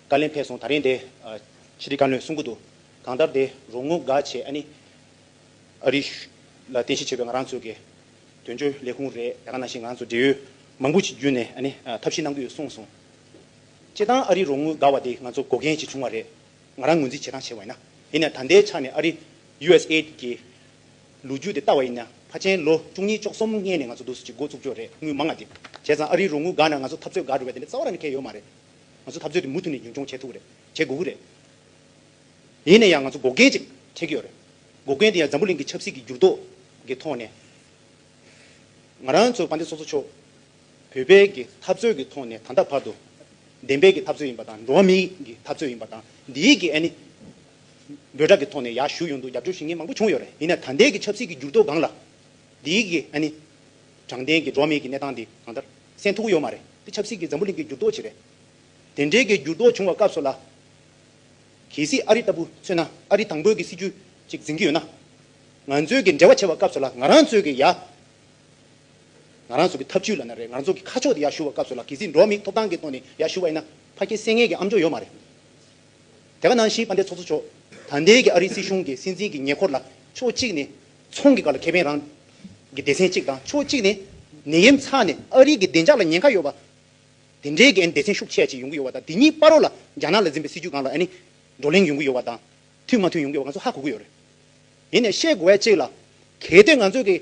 བཀའ་ལན་ཕེབས་སོང་ད་རིང་དེ། ཕྱི་དྲིལ་བཀའ་བློན་གསུང་གི་འདུག་གང་ལྟར་དེ་རོགས་དངུལ་དགའ་བྱེད་ཨ་ནི། ཨ་རི། ལ་རྟེན་གཞི་བྱས་པའི་ང་རང་ཚོའི་དགེ། དོན་གཅོད་ལས་ཁུངས་རེད་ད་ག་ནང་བཞིན་ང་ཚོ་འབྲེལ་ཡོད་མང་པོ་ཅིག་བརྒྱུད་ནས་ཨ་ནི་ཐབས་ཤེས་གནང་གི་ཡོད་གསུངས་སོང། བྱེད་སྟངས་ཨ་རི་རོགས་དངུལ་དགའ་བ་དེ་ང་ཚོ་གོ་མཁན་ཞིག་བྱུང་བ་རེད། ང་རང་ངོས་འཛིན་བྱེད་སྟངས་བྱས་བ་ཡིན་ན། ཡིན་ནས་ད་ལྟའི་ཆ་ནས་ཨ་རི། USAID། གི། ལོ་རྒྱུས་དེ་ལྟ་བ་ཡིན་ན་ཕ་ཆེན་ལོ་བཅུ་གཉིས་ཅོག་གསུམ་སྔས་ནས་ང་ཚོ་འདུག་སྲིད་ཀྱི་འགོ་བཙུགས་ཀྱོ་རེད་དངུལ་མང་ང་འདེབས་བྱས་ཙང་ཨ་རིའི་རོགས་དངུལ་འགའ་ན་ང་ཚོ་འཐབ་རྩོད་འགའ་འགྲོ་བས་དེ་འདྲ་རྩ་བ་ར་ནི་ཁེལ་ཡོད་མ་རེད་ང་ཚོ་འཐབ་རྩོད་དེ་མུ་མཐུད་ནས་རྒྱུན་སྐྱོང་བྱས་ཐུབ་རེད་བྱེད་དགོས་ཀྱི་རེད་ཡིན་ན་ཡང་ང་ཚོ་འགོག་རྐྱེན་ཅིག་འཕྲད་ཀྱི་ཡོད་རེད་འགོག་རྐྱེན་དེ་ཡང་འཛམ་བུ་གླིང་གི་ཆབ་སྲིད་ཀྱི་འགྱུར་ལྡོག་གི་ཐོག་ནས་ང་རང་ཚོ་དཔའ་འདེབས་སོ་སོ་ཆོག་བོད་པའི་གི་འཐབ་རྩོད་གི་ཐོག་ནས་ད་ལྟ་བར་དུ་བདེན་པའི་གི་འཐབ་རྩོད་ཡིན་པ་དང་འགྲོ་བ་མིའི་གི་འཐབ་རྩོད་ཡིན་པ་དང་འདིའི་གི་ཨ་ནི་འབོད་སྒྲ་གི་ཐོག་ནས་ཡག་ཞུ་ཡོང་འདུག་རྒྱབ་སྐྱོར་ཞུ་མཁན་མང་པོ་བྱུང་ཡོད་རེད་ཡིན་ན་ད་ལྟའི་གི་ཆབ་སྲིད་གི་འགྱུར་ལྡོག་སྒང་ལ། འདིའི་གི་ཨ་ནི། དྲང་བདེན་གི་འགྲོ་མེད་གི་གནས་སྟངས་འདི་གང་ལྟར། སེམས་ཐུག་གི་ཡོད་མ་རེད་དེ་ཆབ་སྲིད་གི་འཛམ་བུ་གླིང་གི་འགྱུར་ལྡོག་ཅིག་རེད། དེ་འདྲའི་གི་འགྱུར་ལྡོག་བྱུང་བ་སྐབས་སུ་ལ། གལ་སྲིད་ཨ་རི་ལྟ་བུ་མཚོན་ན་ཨ་རི་དང་པོའི་གི་སྲིད་བྱུས་ཅིག་འཛིན་གི་ཡོད་ན། ང་ཚོའི་གི་འབྲེལ་བ་བྱེད་པ་སྐབས་སུ་ལ་ང་རང་ཚོའི་གི་ཡ། ང་རང་ཚོ་གི་ཐབས་བྱུས་ལ་ན་རེ་ང་ཚོ་གི་ཁ་ཕྱོགས་དེ་ཡག་ཞུ་བ་སྐབས་སུ་ལ་གལ་སྲིད་འགྲོ་མེད་ཐོབ་ཐང་གི་ཐོག་ནས་ཡག་ཞུ་བ་ཡིན་ན་ཕ་སྐད་གསལ་ངེས་གི་ཨམ་ཅོག་ཡོད་མ་རེད། རྒྱ་གར་ནང་བཞིན་དཔའ་འབྲེལ་ཚོགས་གཙོ་མཆོག་དང་ལྡན་གྱི་ཨ་རིའི་སྲིད་གཞུང་གི་སྲིད་འཛིན་གྱི་ཉེ་འཁོར་ལ་ཕྱོགས་གཅིག་ནས་ཚོང་གི་བཀའ་ལ་ཁེ་ཕན་རང་གི་སྡེ་ཚན་གཅིག་དང་ཕྱོགས་གཅིག་ནས་ནད་ཡམས་ཚ་ནས་ཨ་རིའི་གི་བདེ་འཇགས་ལ་ཉེན་ཁ་ཡོད་པ། དེ་འབྲེལ་གྱི་སྡེ་ཚན་ཤུགས་ཆེ་བ་ཅིག་ཡོང་གི་ཡོད་པ་དང་དེ་ཉིད་སྤར་རོགས་ལ་རྒྱ་ནག་ལ་འཛིན་པའི་སྲིད་ཇུས་གང་ལ་བགྲོ་གླེང་ཡོང་གི་ཡོད་པ་དང་མཐུན་མ་མཐུན་ཡོང་གི་ཡོད་པ་ང་ཚོ་ཧ་གོ་གི་ཡོད་རེད། དེ་ནས་བཤད་དགོས་བ་གཅིག་ལ། གལ་ཏེ་ང་ཚོས་གི་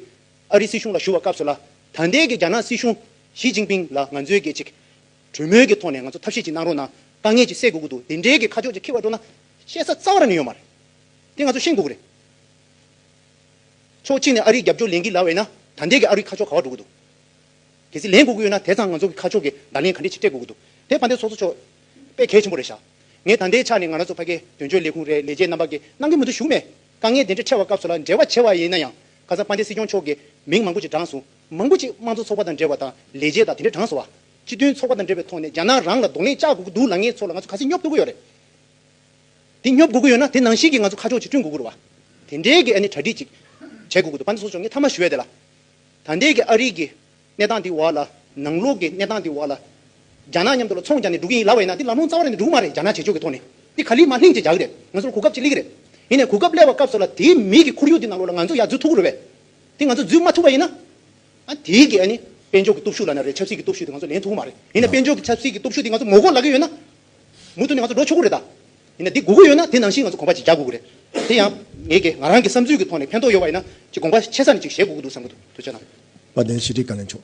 ཨ་རིའི་སྲིད་གཞུང་ལ་ཞུ་བ་སྐབས་སུ་ལ་དང་ལྡན་གྱི་རྒྱ་ནག་སྲིད་གཞུང་ཞི་ཅིང་ཕིང་ལ་ང་ཚོས་གི་ཅིག་གྲོས་མོལ་གྱི་ཐོག་ནས་ང་ཚོ་ཐབས་ཤེས་ཅིག་གནང་རོགས་གནང། དཀའ་ངལ་ཅིག་སེལ་དགོས་ཀྱི་འདུག་དེ་འབྲེལ་གྱི་ཁ་ཕྱོགས་ཅིག་འཁྱེར་བར་སྤྲོ་ན། བཤད་ས་རྩ་བ་ནས་ཡོད་མ་རེད། དེ་ང་ཚོ་ཤེས་དགོས་ཀྱི་རེད། ཕྱོགས་གཅིག་ནས་ཨ་རིའི་རྒྱབ་སྐྱོར་ལེན་གྱི་ལ་བས་ན་ད་ལྟའི་གི་ཨ་རུའི་ཁ་ཕྱོགས་ག་བར་འགྲོ་གི་འདུག་གལ་སྲིད་ལེན་དགོས་ཀྱི་ཡོད་ན་དེ་ཚང་ང་ཚོ་གི་ཁ་ཕྱོགས་ཀྱི་བརྡ་ལན་ག་འདྲས་ཅིག་སྤྲད་དགོས་ཀྱི་འདུག་དེ་ཕ་འདེ་ཚོགས་གཙོ་མཆོག་དཔེ་གལ་ཆེན་པོ་རེད་ཤག་ངས་ད་ལྟའི་ཆ་ནས་ང་རང་ཚོ་ཕ་གའི་དོན་གཅོད་ལས་ཁུངས་རེད་ལས་བྱེད་རྣམ་པ་གིས་གནང་གི་མི་འདུག་བཞུགས་མེད་དཀའ་ངལ་དེ་འདྲས་འཕྲད་བ་སྐབས་སུ་ལ་འབྲེལ་བ་བྱས་བ་ཡིན་ན་ཡང་ཁ་སང་ཕ་འདེ་སྲིད་སྐྱོང་མཆོག་གིས་མིང་མང་པོ་ཅིག་བགྲངས་སོང། མང་པོ་ཞིག་དམངས་གཙོ་ཚོགས་པ་དང་འབྲེལ་བ་དང་ལས་བྱེད་དང་དེ་འདྲའི་གྲངས་སུ་བ། སྤྱི་མཐུན་ཚོགས་པ་དང་འབྲེལ་བའི་ཐོག་ནས་རྒྱ་ནག་རང་ལ་གདོང་ལེན་བཅག་དགོས་ཀྱི་འདུག་ལ་ངའི་ཚོ་ལ་ང་ཚོ་ག་ཚིག་སྙོབ་དགོས་ཀྱི་ཡོད་རེད་དེ་སྙོབ་དགོས་ཀྱི་ཡོད་ན་དེ་ནང་བཞིན་གྱི་ང་ཚོ་ཁ་ཕྱོགས་ཅིག་བསྐྲུན་དགོས་ཀྱི་རེད་བ། དེ་འདྲའི་གི་ཨ་ནི་གྲ་སྒྲིག་ཅིག་བྱས་དགོས་ཀྱི་འདུག་བ་འདི་ཚོ་ཆོག་ངས་མཐའ་མ་ཞུ་ཡ་དེ་ལ། ད་ལྟའི་གི་ཨ་རིག་གི་གནས་སྟངས་དེ་བ་ལ་ནང་ལོག་གི་གནས་སྟངས་དེ་བ་ལ། རྒྱ་ནག་མཉམ་དུ་ལ་ཚོང་རྒྱག་ནས་འགྲོ་གི་ཡིན་ལབ་བ་ཡིན་ན་དེ་ལམ་ལྷོང་རྩ་བ་རེད་ནས་འགྲོ་གི་མ་རེད་རྒྱ་ནག་བྱེད་ཕྱོགས་ཀྱི་ཐོག་ནས་དེ་ག་ལི་མ་ལྷིང་ཅིག་རྒྱག་གི་རེད་ང་ཚོ་ལ་གོ་སྐབས་ཅིག་སླེ་གི་རེད། ཡིན་ནས་གོ་སྐབས་སླེ་བ་སྐབས་སོགས་ལ་དེའི་མིའི་གི་ཁོར་ཡུག་དེ་ནང་ལོག་ལ་ང་ཚོ་ཡར་འཛུལ་ཐུབ་ཀྱི་རེད་བས། དེ་ང་ཚོ་འཛུལ་མ་ཐུབ་པ་ཡིན་ན། ཨ་དེའི་དགེ་ཨ་ནི། དཔལ་འབྱོར་གྱི་སྟོབས་ཤུགས་ལ་ན་རེ་ཆབ་སྲིད་ཀྱི་སྟོབས་ཤུགས་དེ་ང་ཚོ་ལེན་ཐུབ་ཀྱི་མ་རེད། ཡིན་ནས་དཔལ་འབྱོར་གྱི་ཆབ་སྲིད་ཀྱི་སྟོབས་ཤུགས་དེ་ང་ཚོ་ངོ་རྒོག་ལ་གི་ཡོད་ན། མུ་མཐུད་ནས་ང་ཚོ་ལོ་ཆུ་དགུ་རེ་ད། ཡིན་ནས་འདི་དགུ་དགུ་ཡོད་ན་དེ་ནང་བཞིན་ང་ཚོ་གོམ་པ་གཅིག་རྒྱག་དགོས་ཀྱི་རེད། དེ་ཡང། ངའི་དགེ་ང་རང་གི་བསམ་ཚུལ་གྱི་ཐོག་ནས་ཕན་ཐོགས་ཡོད་པ་ཡིན་ན། གཅིག་གོམ་པ་ཆེ་ས་ནས་གཅིག་བཞེས་དགོས་ཀྱི་འདུག་བསམ་གྱི་འདུག་དོན་ཆེ་ན། བ་དན་ཞི་བདེའི་བཀའ་ལན་ཆོག།